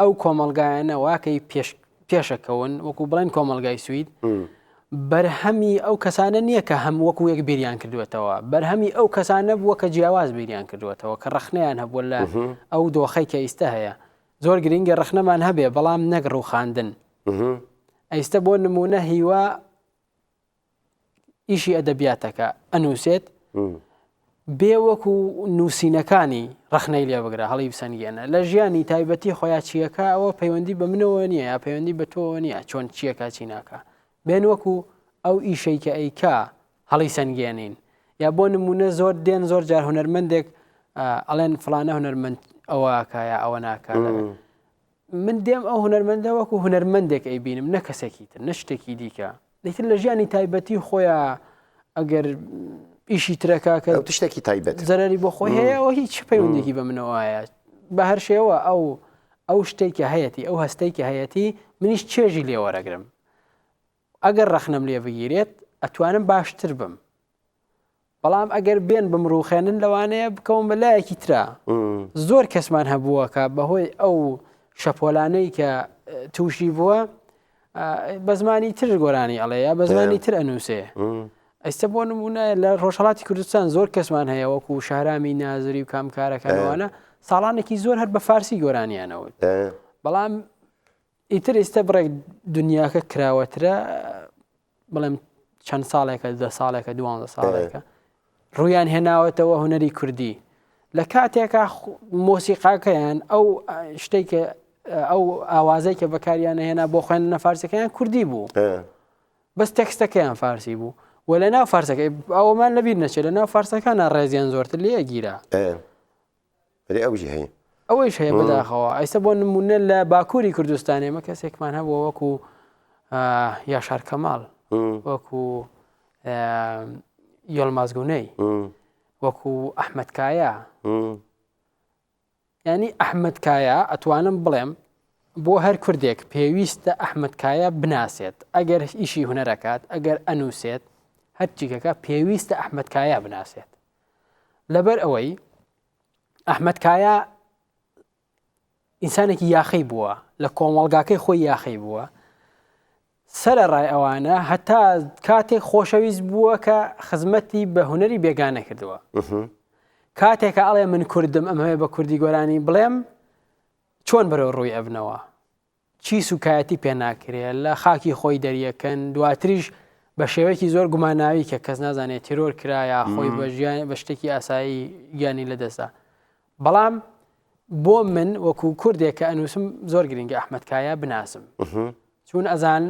ئەو کۆمەلگایانە واکەی پێشەکەون وەکو بڵێن کۆمەلگای سوید بەرهەمی ئەو کەسانە نییە کە هەم وەکو یەک بیریان کردوێتەوە بەرهەمی ئەو کەسانە بووە کە جیاواز بیریان کردوێتەوە کە ڕخنەیان هەبووە لە ئەو دۆخی کە ئیستا هەیە زۆر گرنگە ڕخنەمان هەبێ بەڵام نەگڕ و خواندن ئەیستە بۆ نمونە هیوا ئیشی ئەدەبیاتەکە ئەنووسێت بێ وەکو نووسینەکانی ڕخنەی لێ بگرە هەڵی بسەنگێنە لە ژیانی تایبەتی خۆیان چیەکە ئەوە پەیوەندی بە منەوە نییە یا پەیوەندی بە تۆ نییە چۆن چیەکە چی ناکە بێن وەکو ئەو ئیشەی کە ئەیکا هەڵی سنگێنین یا بۆ نمونە زۆر دێن زۆر جار هوەرمەندێک ئەڵێن فلانە هوەرمەند ئەوەکە یا ئەوە ناکە من دێم ئەو هونەرمەندە وەکو هونەرمەندێک ئەیبینم نە کەسێکی تر نە شتێکی دیکە دیتر لە ژیانی تایبەتی خۆیان ئەگەر ئیشی ترەکە کە شتێکی تایبەت زەرری بۆ خۆی هەیە و هیچ پەیوەندێکی بە منەوەایە بە هەر شێوە ئەو ئەو شتێکە هەیەی ئەو هەستێکی هەیەی منیش چێژی لێوەرەگرم ئەگەر ڕەخنەم لێ بگیرێت ئەتوانم باشتر بم بەڵام ئەگەر بێن بمڕوخێنن لەوانەیە بکەون بە لایەکی ترا زۆر کەسمان هەبووەکە بەهۆی ئەو شەپۆلانەی کە تووشی بووە بە زمانی تر گۆرانی ئەڵەیە بە زمانی تر ئەنووسێ ئەیستا بۆ نمونە لە ڕۆژهڵاتی کوردستان زۆر کەسمان هەیە وەکو شارامی نازری و کامکارەکانوانە ساڵانێکی زۆر هەر بە فارسی گۆرانیانەوت بەڵام ئیتر ئیستە بڕێک دنیاکە کراوەترە بڵێم چەند ساڵێکە دە ساڵێکە دوان ساڵێکە ڕویان هێناوەتەوە هوەری کوردی لە کاتێکا مۆسیقاکەیان ئەو شتێکە ئەو ئاوازەی کە بەکاریانە هێنا بۆ خوێن نەفارسەکەیان کوردی بوو بەس تەکستەکەیان فارسی بوو و لە ناو فارسەکە ئەومان لەبییر نەچێت لە ناو فارسەکانە ڕێزیان زۆرتر لێ گیرا ئەرێ ئەوژی هەیە. ئەوەیش هەیە بەداخەوە ئەیستا بۆ نمونە لە باکووری کوردستان ئێمە کەسێکمان هەبووە وەکو یاشار کەماڵ وەکو یۆلمازگونەی وەکو ئەحمد کایە ینی ئەحمد کایە ئەتوانم بڵێم بۆ هەر کوردێک پێویستە ئەحمد کایە بناسێت ئەگەر ئیشی هوەرەکات ئەگەر ئەنووسێت هەرچیکەکە پێویستە ئەحمد کایە بناسێت لەبەر ئەوەی ئەحمد کایا ئینسانێکی یاخی بووە لە کۆمەڵگاکەی خۆی یاخی بووە سەرە ڕای ئەوانە هەتا کاتێک خۆشەویست بووە کە خزمەتی بە هوەری بێگانە کردووە کاتێکە ئەڵێ من کوردم ئەم هەیە بە کوردی گۆرانی بڵێم چۆن بەرەو ڕووی ئەبنەوە چی سوکایەتی پێ ناکرێ لە خاکی خۆی دەریەکەن دواتریش بە شێوەیەکی زۆر گوماناوی کە کەس نازانێت تیرۆر کرایە خۆی بە ژیان بە شتێکی ئاسایی گیانی لەدەستدا بەڵام بۆ من وەکو کوردێک کە ئەنووسم زۆر گرنگە ئەحمەدکایە بناسم چون ئەزان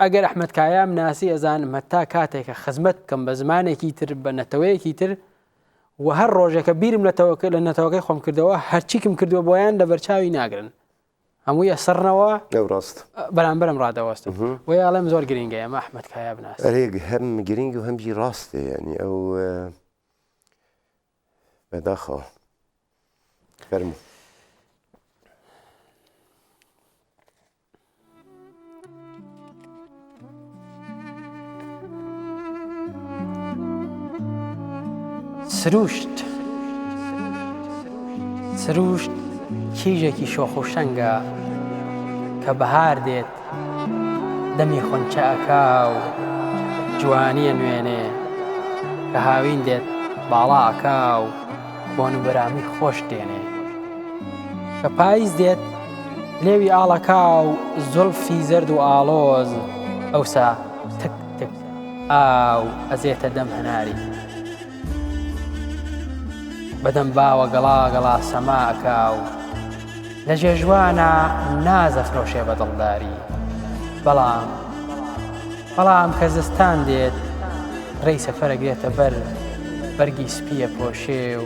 ئەگەر ئەحمەدکایە مناسی ئەزان مەتا کاتێکە خزمەت بکەم بە زمانێکی تر بە نەتەوەیەکی تر و هەر ڕۆژێکە بیرم لە تەوەکە لە نەتەوەکەی خۆم کردەوە هەرچیکم کردووە بۆیان لە بەرچاوی ناگرن هەمووی ئەسڕنەوە ئەو ڕاست بەرامبەرم ڕادەوەستن بۆی ئاڵێم زۆر گرنگە ئەمە ئەحمد کایا بناس ئەرێک هەم گرنگ و هەمجی ڕاستێ ینی ئەو بەداخە فەرمو سرووشت سرووشت کیژێکی شۆخ و شەنگە کە بەهار دێت دەمی خۆنچەکە و جوانیە نوێنێ کە هاوین دێت باڵاکە و بۆن و بەرامی خۆش دێنێ کە پاییز دێت لێوی ئاڵەکا و زوڵفی زەرد و ئاڵۆز ئەوسا تک تک ئاو ئەزێتە دەم هەناری بەدەم باوە گەڵا گەڵا سەماکە و لە جێژوانە نازە فرۆشێ بە دڵداری بەڵام بەڵام کە زستان دێت ڕێی سەفەرەگرێتە بەر بەرگی سپیە پۆشێ و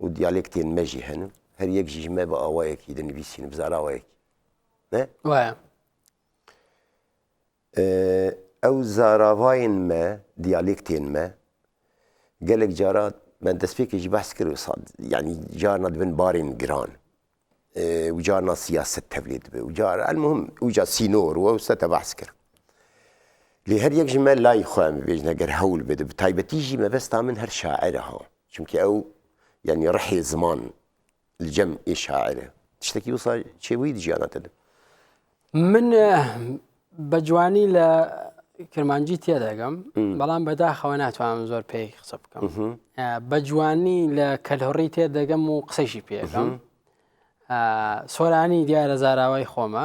و دیالێکتێن مەژی هەن و هەر یەک ژیژمە بە ئاوایەکی دەنویسین و بزاراوەیەکی وایە ئەو زاراڤین مە دیالێکتێن مە گەلێک جارات من دەستپێکێکی بەس کرد و ساد ینی جار نەدبن بارین گران وجا نا سیاسەت تەولید بێ وجا المهم وجا سینۆر و سەتە بەحس کرد لێ هەر یەک ژمە لای خۆیان ببێژن ئەگەر هەول بدە تایبەتیژی مەبەستا من هەر شاعرە هەوە چونکە ئەو یعنی ڕحێ زمان لجەم ئێ شاعرە شتێکی وسا چێوەی دژیانەتە من بە جوانی لە کرمانجی تێدەگەم بەڵام بەداخەوە ناتوانم زۆر پێی قسە بکەم بە جوانی لە کەلهڕی تێدەگەم و قسەشی پێگەم سۆرانی دیارە زاراوای خۆمە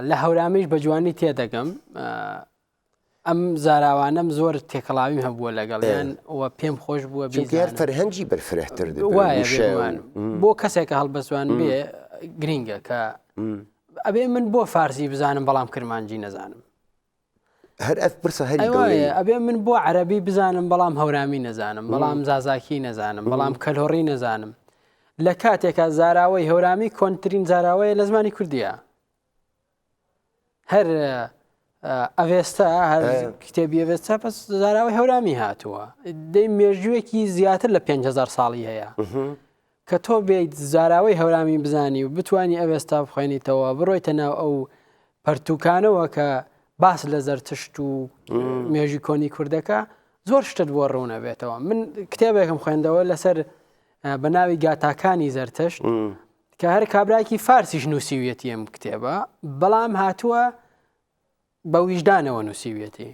لە هەورامیش بە جوانی تێدەگەم ئەم زاراوانەم زۆر تێکەڵاویم هەبووە لەگەڵیان و پێم خۆش بووە بێزیار فەرهەنگی بەرفرەتر بۆ کەسێکە هەڵبەزوان بێ گرینگە کە ئەبێ من بۆ فارسی بزانم بەڵام کرمانجی نەزانم هەر ئەف پرسە هەر ئەبێ من بۆ عەربی بزانم بەڵام هەورامی نەزانم بەڵام زازاکی نەزانم بەڵام کەلۆڕی نەزانم لە کاتێکە زاراوەی هەورامی کۆنتترین زاراوەیە لە زمانی کوردیە هەر ئەڤێستا کتێبی ئەێستا پس زاراوی هەورامی هاتووە دەی مێژوویەکی زیاتر لە 5هزار ساڵی هەیە کە تۆ بێیت زاراوەی هەورامی بزانی و بتانی ئەوێستا بخوێنیتەوە بڕۆیتە ناو ئەو پەرتوکانەوە کە باس لە زەرتشت و مێژی کۆنی کوردەکە زۆر شتت بۆ ڕوونە بێتەوە من کتێبێکم خوێندەوە لەسەر بە ناوی گاتاکانی زەرتشت کە هەر کابراکی فارسیش نووسیویەتی ئەم کتێبە بەڵام هاتووە بە ویژدانەوە نووسیویەتی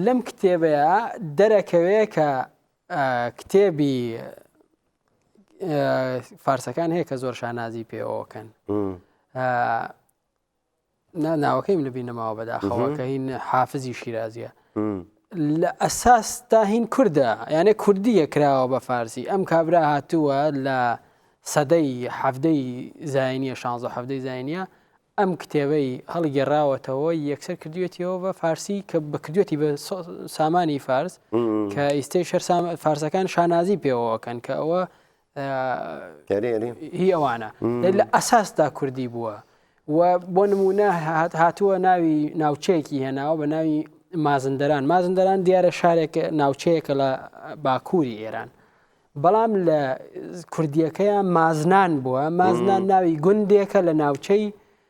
لەم کتێبەیە دەرەکەوێ کە کتێبی فارسەکان هەیە کە زۆر شانازی پێوەکەن نا ناوەکەیم لە بیر نەماوە بەداخەوە کە هین حافزی شیرازیە لە ئەساس تا هین کووردە یانە کوردیە کراوە بە فارسی ئەم کابرا هاتووە لە سەدەی حەفدەی زینیە 16 حەفدەی زینە ئەم کتێبەی هەڵگێڕاوەتەوە یەکسەر کردوێتیەوە بە فارسی کە بکردوێتی بە سامانی فارس کە ئیستی شەر فارسەکان شانازی پێوەکەن کە ئەوە هی ئەوانە لە ئەساسدا کوردی بووە و بۆ نمونە هاتووە ناوی ناوچەیەکی هێناوە بە ناوی مازندران مازندران دیارە شارێک ناوچەیەکە لە باکووری ئێران بەڵام لە کوردیەکەیان مازنان بووە مازنان ناوی گوندێکە لە ناوچەی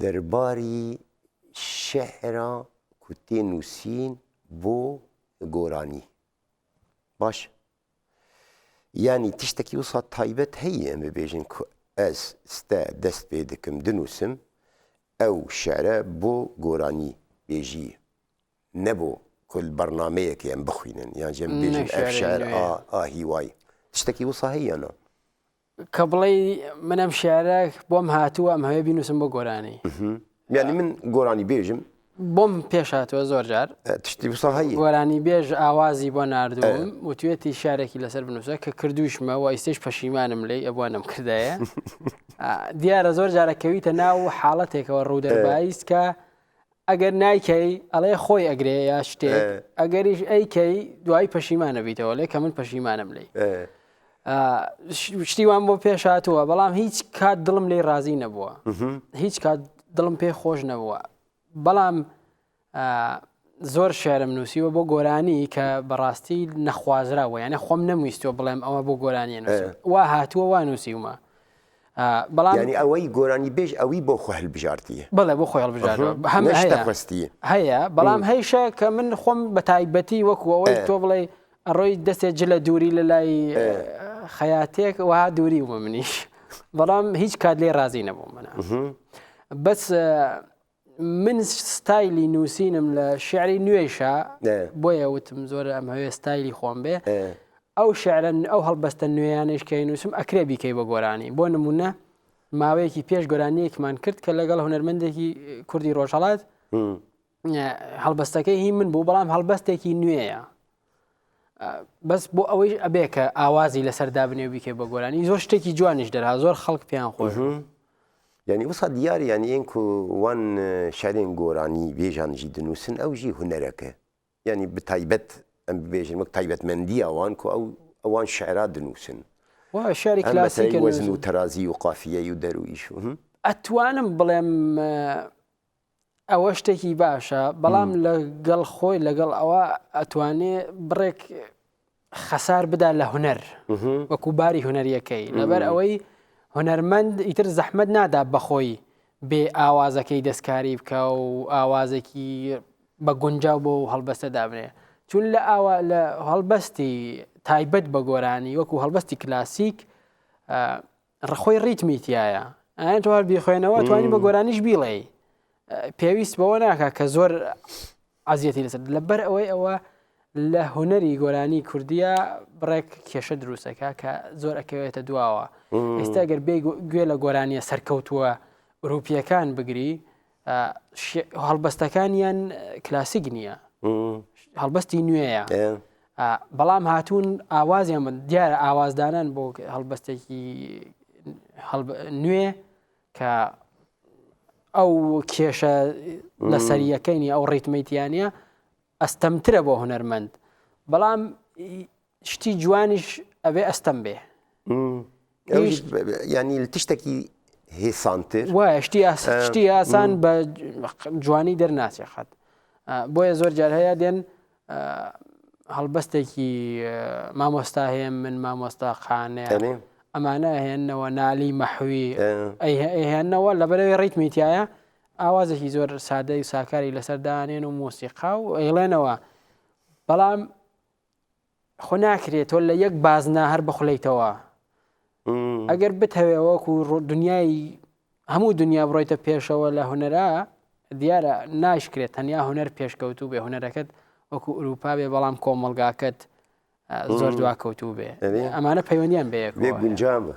دەرباری شیعرە کو تێ نووسین بۆ گۆرانی باش یانی تشتەکی وسا تایبەت هەیە ئەم ببێژن کو ئەز ستە دەست پێ دەکەم دنووسم ئەو شعرە بۆ گۆرانی بێژی نەبوو کل بەرنمەیەکی ئەم بخوینن یان ژێم بێژن ئەف شعر ئا ئا هیوای تشتەکی وسا هەیەە کە بڵێی من ئەم شعرە بۆم هاتووە ئەمهەوێ بینووسم بۆ گۆرانی یعنی من گۆرانی بێژم بۆم پێش هاتووە زۆر جار تشتی بسە هەیە گۆرانی بێژ ئاوازی بۆ نردوم و توێتی شارێکی لەسەر بنووسە کە کردوشمە و ئیسش پەشیمانم لی ئەبوانم کردایە دیارە زۆر جارەکەویتە ناو حاڵەتێکەوە ڕوودەبایست کە ئەگەر نایکەی ئەڵێ خۆی ئەگرێ یا شتێک ئەگەریش ئەیکەی دوای پەشیمانە بیتەوە لێ کە من پەشیمانم لی شتی وام بۆ پێش هاتووە بەڵام هیچ کات دڵم لی ڕازی نەبووە هیچ کات دڵم پێ خۆش نەبووە بەڵام زۆر شعرم نووسیوە بۆ گۆرانی کە بەڕاستی نەخوازراوە یانە خۆم نەمویستوە بڵێم ئەوە بۆ گۆرانیە وا هاتووە وا نووسیومە یانی ئەوەی گۆرانی بێژ ئەوی بۆ خۆ هەلبژاردی بڵێ بۆ خۆی هەڵبژاردی هەیە بەڵام هەیشە کە من خۆم بە تایبەتی وەکوەوەی تۆ بڵێ ئەڕۆی دەستێ جلە دووری لە لای خەیاتێک وە دووری وە منیش بەڵام هیچ کات لێ رازی نەبووم منە بەس من ستایلی نووسینم لە شعری نوێشە بۆیە وتم زۆر ئەم هەوێ ستایلی خۆم بێ ئەو شعرن ئەو هەڵبەستە نوێیانش کە نووسم ئەکرێ بیکەی بە گۆرانی بۆ نمونە ماوەیەکی پێش گۆرانیەکمان کرد کە لەگەڵ هوەرمەندێکی کوردی ڕۆژهڵات هەڵبەستەکەی هی من بوو بەڵام هەڵبەستێکی نوێیە بەس بۆ ئەوەیش ئەبێ کە ئاوازی لەسەر دابنێ بیکێ بە گۆرانی زۆر شتێکی جوانیش دەرا زۆر خەڵک پێیان خۆش ینی وسا دیار یان یەن کو وان شارێن گۆرانی بێژانژی دنووسن ئەو ژی هوەرەکە ینی بتایبەت ئەم بێژن وەک تایبەتمەندی ئەوان کو ئەو ئەوان شعرا دنووسن شاری کلاسی وەزن و تەرازی و قافیە و دەرویش ئەتوانم بڵێم ئەوە شتێکی باشە بەڵام لە گەڵ خۆی لەگەڵ ئەوە ئەتوانێ بڕێک خەسار بدا لە هوەر وەکو باری هوەریەکەی لەبەر ئەوەی هوەرمەند ئیتر زەحمد نادا بەخۆی بێ ئاوازەکەی دەستکاری بکە و ئاوازێکی بە گونجاو بۆ و هەڵبەستە دابنێ چون لە ئاوا لە هەڵبەستی تایبەت بە گۆرانی وەکو هەڵبەستی کلاسیک ڕخۆی ڕیتمی تیایە ئەیان تۆ هەر بیخوێنەوە توانی بە گۆرانیش بیڵێی پێویست بەوە ناکە کە زۆر عزیەتی لەسەر لەبەر ئەوەی ئەوە لە هوەری گۆرانی کوردیە بڕێک کێشە دروستەکە کە زۆر ئەکەوێتە دواوە ئێستا گەر بێ گوێ لە گۆرانیە سەرکەوتووە ئۆروپیەکان بگری هەڵبەستەکانیان کلاسیک نییە هەڵبەستی نوێیە بەڵام هاتوون ئاوازیان من دیارە ئاوازدانان بۆ هەڵبەستێکی نوێ کە ئەو کێشە لە سەریەکەینی ئەو ڕیتمیتیانە ئەستەمترە بۆ هوەرمەند بەڵام شتی جوانیش ئەوێ ئەستەم بێ ینی لە تشتێکی هێسانتر وایە شتی شتی ئاسان بە جوانی دەرناچێ خەت بۆیە زۆر جار هەیە دێن هەڵبەستێکی مامۆستا هەیە من مامۆستا خانێ ئەمانە هێنەوە نالی مەحوی ئەیهێنەوە لە بەرەوەی ڕیتمیتایە ئاوازێکی زۆر سادەی ساکاری لەسەردانێن و مۆسیقا و ئەیڵێنەوە بەڵام خۆ ناکرێت تۆ لە یەک بازنا هەر بخلیتەوە ئەگەر بتەوێ وەکو دنیای هەموو دنیا بڕۆیتە پێشەوە لە هوەرا دیارە ناشکرێت تەنیا هوەر پێشکەوتوو بێ هوەرەکەت وەکو ئوروپا بێ بەڵام کۆمەلگاکەت زۆر دواکەوتوو بێ ئەمانە پەیوەندیان بێ گونجامە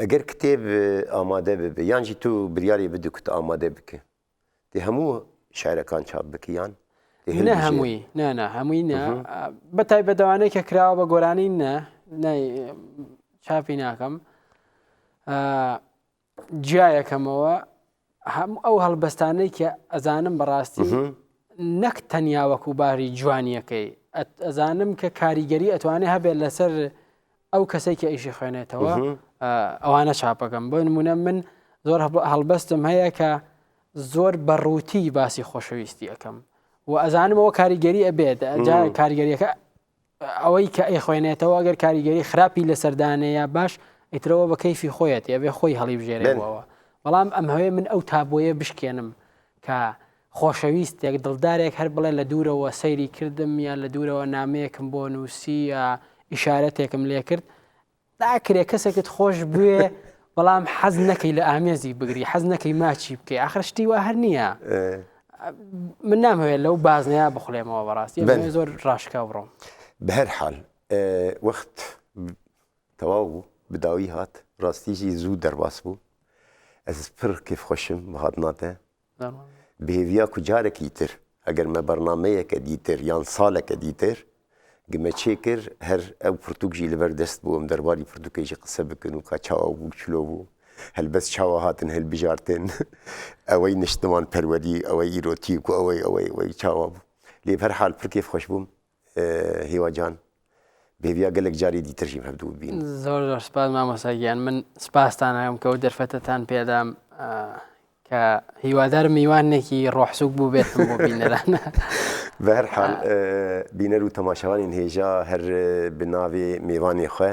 ئەگەر کتێب ئامادە ببێ یانجی تو بریاری بدو کت ئامادە بکە دێ هەموو شارەکان چاپ بکیان نە هەمووی نانا هەمووی نە بە تای بەدەوانەی کە کراوە بە گۆرانی نە چاپی ناکەم جیایەکەمەوە هەموو ئەو هەڵبەستانەی کە ئەزانم بەڕاستی نەک تەنیا وەکو باری جوانیەکەی ئەزانم کە کاریگەری ئەتوانێ هەبێت لەسەر ئەو کەسێک کە ئیشی خوێنێتەوە ئەوانە چاپەکەم بۆ نمونە من زۆر هەڵبەستم هەیە کە زۆر بەڕووتی باسی خۆشەویستی ئەەکەم و ئەزانمەوە کاریگەری ئەبێت کاریگەریەکە ئەوەی کە ئەیخوێنێتەوە ئەگەر کاریگەری خراپی لەسەر دانێیا باش ئیترەوە بە کەیفی خۆیەتی ئەبێ خۆی هەڵیبژێرێەوە بەڵام ئەم هەوێ من ئەو تابۆیە بشکێنم کە خۆشەویستێک دڵدارێک هەر بڵێ لە دوورەوە سەیری کردم یا لە دوورەوە نامەیەکم بۆ نووسی یا ئیشارەتێکم لێ کرد ناکرێ کەسێکت خۆش بوێ بەڵام حەز نەکەی لە ئامێزی بگری حەز نەکەی ماچی بکەی ئاخر شتی وا هەر نییە من نامەوێت لەو بازنەیە بخولێمەوە بەڕاستی زۆر ڕاشکا بڕۆم بە هەر حال وەخت تەواو بوو بداوی هات ڕاستیژی زوو دەرباس بوو ئەز پر کیف خۆشم بەهات ناتێ بێویا کو جارەکی تر ئەگەر مە بەرنامەیەکە دیتر یان سالەکە دیتر گمە چێ کر هەر ئەو پرتوک ژی لەبەر دەست بووم دەرباری پرتوکێ ژی قسە بکن و کا چاوا بوو چلۆ بوو هەلبەس چاوا هاتن هەلبژارتن ئەوەی نشتمان پەروەدی ئەوەی ئیرۆتیک و ئەوەی ئەوەی ئەوەی چاوا بوو لێ بەر حال پر کێف خوەش بووم هیوا جان بێبیا گەلێک جاری دیترژیم هەردوو بین زۆر زۆر سپاس مامۆساگیان من سپاستان هەم کە و دەرفەتتان پێدام کە هیوادار میوانێکی ڕۆحسوک بوو بێت بۆ بینەران بەرحال بینەر و تەماشەوانین هێژا هەر بناوێ میوانی خوێ